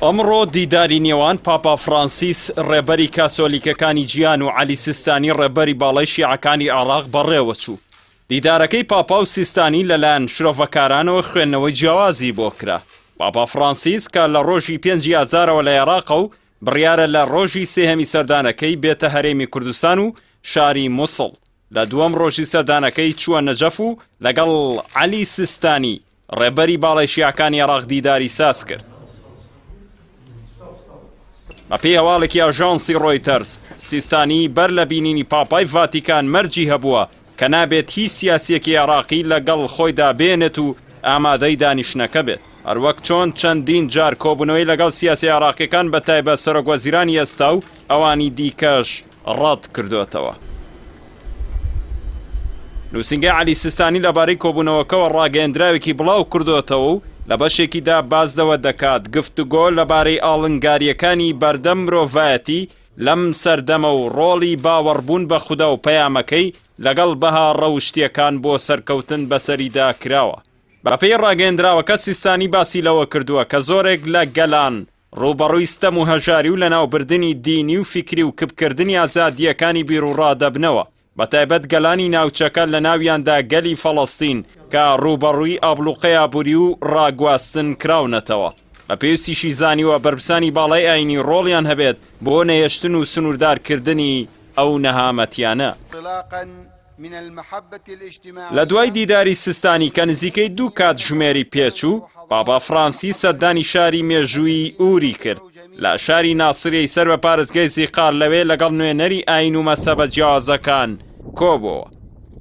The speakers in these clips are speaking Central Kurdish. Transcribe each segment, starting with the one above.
ئەمڕۆ دیداری نێوان پاپا فرانسیس ڕێبەری کاسۆلیکەکانی جیان و علی سیستانی ڕێبەری باڵای شیعەکانی عێراق بەڕێوەچوو. دیدارەکەی پاپا و سیستانی لەلایەن شرۆڤەکارانەوە خوێندنەوەی جیاوازی بۆ کرا. پاپا فرانسیس کە لە ڕۆژی پێنجی ئازارەوە لە عێراقە و بڕیارە لە ڕۆژی سێهەمی سەردانەکەی بێتە هەرێمی کوردستان و شاری موسڵ لە دووەم ڕۆژی سەردانەکەی چووە نەجەف و لەگەڵ عەلی سیستانی ڕێبەری باڵای شیعەکانی عێراق دیداری ساز کرد. بەپێی هەواڵێکی ئاژانسی ڕۆیتەرز سیستانی بەر لە بینینی پاپای ڤاتیکان مەرجی هەبووە کە نابێت هیچ سیاسیەکی عێراقی لەگەڵ خۆیدا بێنێت و ئامادەی دانیشتنەکە بێت هەروەک چۆن چەندین جار کۆبوونەوەی لەگەڵ سیاسی عێراقیەکان بە تایبەت سەرۆک وەزیرانی ئێستا و ئەوانی دیکەش ڕەت کردووەتەوە. نووسینگەی عەلی سیستانی لەبارەی کۆبوونەوەکەوە ڕاگەیەندراوێکی بڵاو کردووەتەوە و لە بەشێکیدا باس لەوە دەکات، گفتوگۆ لەبارەی ئاڵنگارییەکانی بەردەم مرۆڤایەتی لەم سەردەمە و ڕۆڵی باوەڕبوون بە خودا و پەیامەکەی لەگەڵ بەها ڕەوشتییەکان بۆ سەرکەوتن بەسەریدا کراوە. بەپێی ڕاگەیەندراوەکە سیستانی باسی لەوە کردووە کە زۆرێک لە گەلان ڕووبەڕووی ستەم و هەژاری و لەناوبردنی دینی و فیکری و کپکردنی ئازادییەکانی بیروڕا دەبنەوە، بەتایبەت گەلانی ناوچەکە لەناویاندا گەلی فەڵەستین کە ڕووبەڕووی ئابڵوقەی ئابووری و ڕاگواستن کراونەتەوە. بە پێوسیشی زانیوە بەرپسانی باڵای ئایینی ڕۆڵیان هەبێت بۆ نەهێشتن و سنووردارکردنی ئەو نەهامەتیانە. لە دوای دیداری سستانی کە نزیکەی دوو کاتژمێری پێچوو، پاپا فرانسی سەردانی شاری مێژوویی ئوری کرد لە شاری ناسریەی سەر بە پارێزگای زیقار لەوێ لەگەڵ نوێنەری ئاین و مەسەبە جیاوازەکان کۆبۆوە.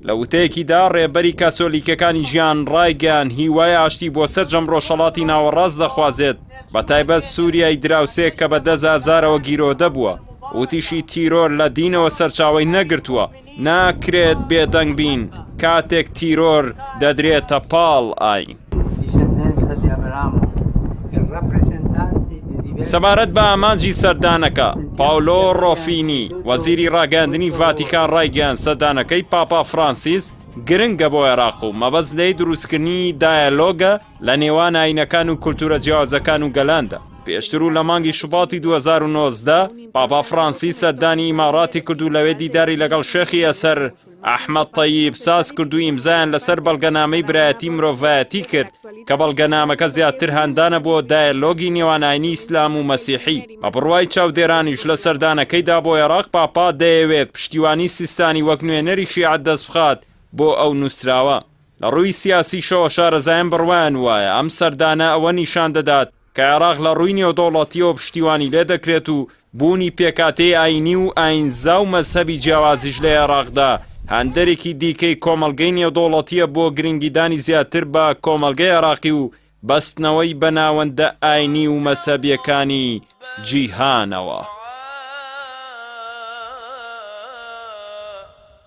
لە وتەیەکیدا ڕێبەری کاسۆلیکەکانی ژیان ڕایگەیان هیوای ئاشتی بۆ سەرجەم ڕۆژهەڵاتی ناوەڕاست دەخوازێت بە تایبەت سوریای دراوسێ کە بە دەست ئازارەوە گیرۆدە بووە، وتیشی تیرۆر لە دینەوە سەرچاوەی نەگرتووە، ناکرێت بێدەنگ بین کاتێک تیرۆر دەدرێتە پاڵ ئاین. سەبارەت بە ئامانجی سەردانەکە، پاولۆ ڕۆفینی، وەزیری ڕاگەیاندنی ڤاتیکان ڕایگەیاند سەردانەکەی پاپا فرانسیس گرنگە بۆ عێراق و مەبەست لێی دروستکردنی دایەلۆگە لە نێوان ئاینەکان و کولتوورە جیاوازەکان و گەلاندا. پێشتر و لە مانگی شوباتی دوو هەزار و نۆزدە پاپا فڕانسیس سەردانی ئیماڕاتی کرد و لەوێ دیداری لەگەڵ شێخی ئەسەر ئەحمەد تەییب ساز کرد و ئیمزایان لەسەر بەڵگەنامەی برایەتی مرۆڤایەتی کرد کە بەڵگەنامەکە زیاتر هاندانە بۆ دایەلۆگی نێوان ئاینی ئیسلام و مەسیحی بە بڕوای چاودێرانیش لە سەردانەکەیدا بۆ ئێراق پاپا دەیەوێت پشتیوانی سیستانی وەک نوێنەری شیعە دەستبخات بۆ ئەو نووسراوە. لە ڕووی سیاسیشەوە شارەزایان بڕوایان وایە ئەم سەردانە ئەوە نیشان دەدات کە عێراق لە ڕووی نێودەوڵەتییەوە پشتیوانی لێ دەکرێت و بوونی پێکهاتەی ئایینی و ئایینزا و مەزهەبی جیاوازیش لە عێراقدا هاندەرێکی دیکەی کۆمەڵگەی نێودەوڵەتییە بۆ گرنگیدانی زیاتر بە کۆمەڵگەی عێراقی و بەستنەوەی بە ناوەندە ئایینی و مەزهەبییەکانی جیهانەوە.